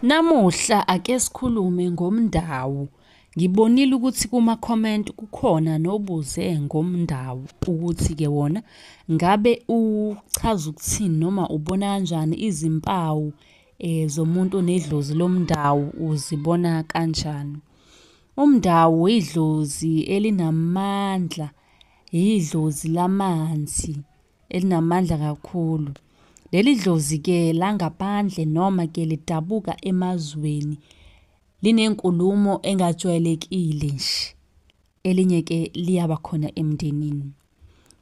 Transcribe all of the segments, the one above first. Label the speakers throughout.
Speaker 1: Namuhla ake sikhulume ngomndawu. Ngibonile ukuthi kuma comment kukhona nobuze ngomndawu ukuthi ke wona ngabe uchaza ukuthini noma ubona kanjani izimpawu eh, zomuntu onedlozi lomndawu uzibona kanjani. Umndawu idlozi elinamandla, idlozi lamanzi. elinamandla kakhulu. Leli dlozi-ke langaphandle noma-ke lidabuka emazweni linenkulumo engajwayelekile nje. Elinye-ke liyaba khona emndenini.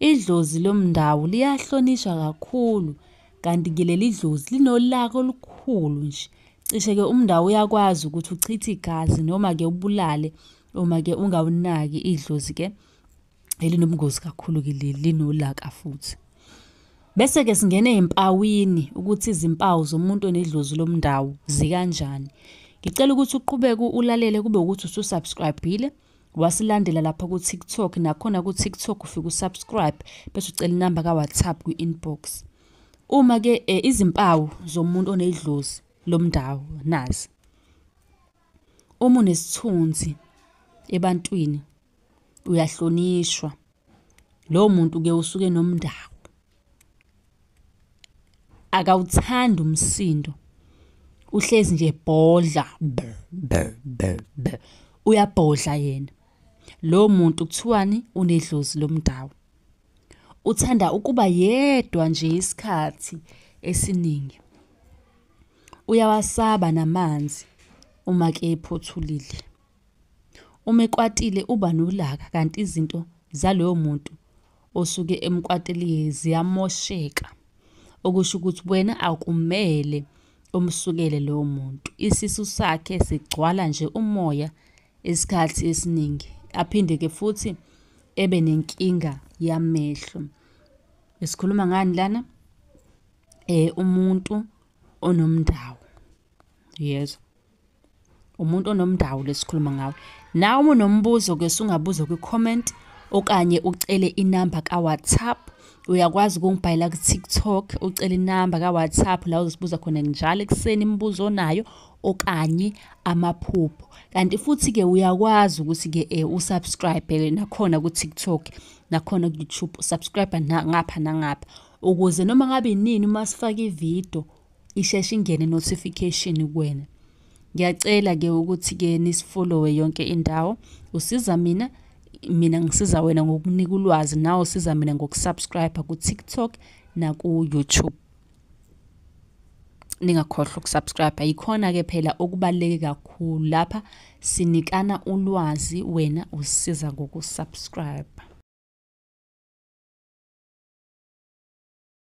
Speaker 1: Idlozi lomndawo liyahlonishwa kakhulu kanti-ke leli dlozi linolaka olukhulu nje. Cishe-ke umndawo uyakwazi ukuthi uchithe igazi noma-ke ubulale uma-ke ungawunaki idlozi-ke. elinobungozi kakhulu kile linolaka futhi bese ke singena ezimpawini ukuthi izimpawu zomuntu onedlozi lomndawo zikanjani ngicela ukuthi uqhubeke ulalele kube ukuthi ususubscribile wasilandela lapha ku TikTok nakhona ku TikTok ufike usubscribe bese ucela inamba ka WhatsApp kwi inbox uma ke eh, izimpawu zomuntu onedlozi lomndawo nazi uma unesithunzi ebantwini uyahlonishwa lowo muntu ke usuke nomndawo akawuthandi umsindo uhlezi nje bhodla uyabhodla yena lo muntu kuthiwani unedlozi lomdawo uthanda ukuba yedwa nje isikhathi esiningi uyawasaba namanzi uma ke ephothulile Uma ekwatile uba nolaka kanti izinto zaloyo muntu osuke emkwateliye ziyamosheka. Okusho ukuthi wena akumele umsukele lowo muntu. Isisu sakhe sigcwala nje umoya isikhathi esiningi. Aphinde-ke futhi ebe nenkinga yamehlo. Sikhuluma ngani lana? Umuntu onomndawo. Uyezwa? umuntu onomndawo lesikhuluma ngawe nawe uma unombuzo ke sungabuza kwi-comment okanye ucele inamba ka-whatsapp uyakwazi ukungibhalela ku-tiktok ucele inamba ka-whatsapp la uzosibuza khona njalo ekuseni imibuzo onayo okanye amaphupho kanti futhi-ke uyakwazi ukuthi-ke um eh, usubscribe-ke nakhona ku-tiktok nakhona ku-youtube usubscribe ngapha nangapha ukuze noma ngabe nini uma sifake ividiyo isheshe ingene notification kuwena ngiyacela ke ukuthi ke nisifollowe yonke indawo usiza mina mina ngisiza wena ngokunika ulwazi nawe usiza mina ngokusubscribe ku-tiktok naku-youtube ningakhohlwa ukusubscribe yikhona-ke phela okubaluleke kakhulu lapha sinikana ulwazi wena usisiza ngokusubscribe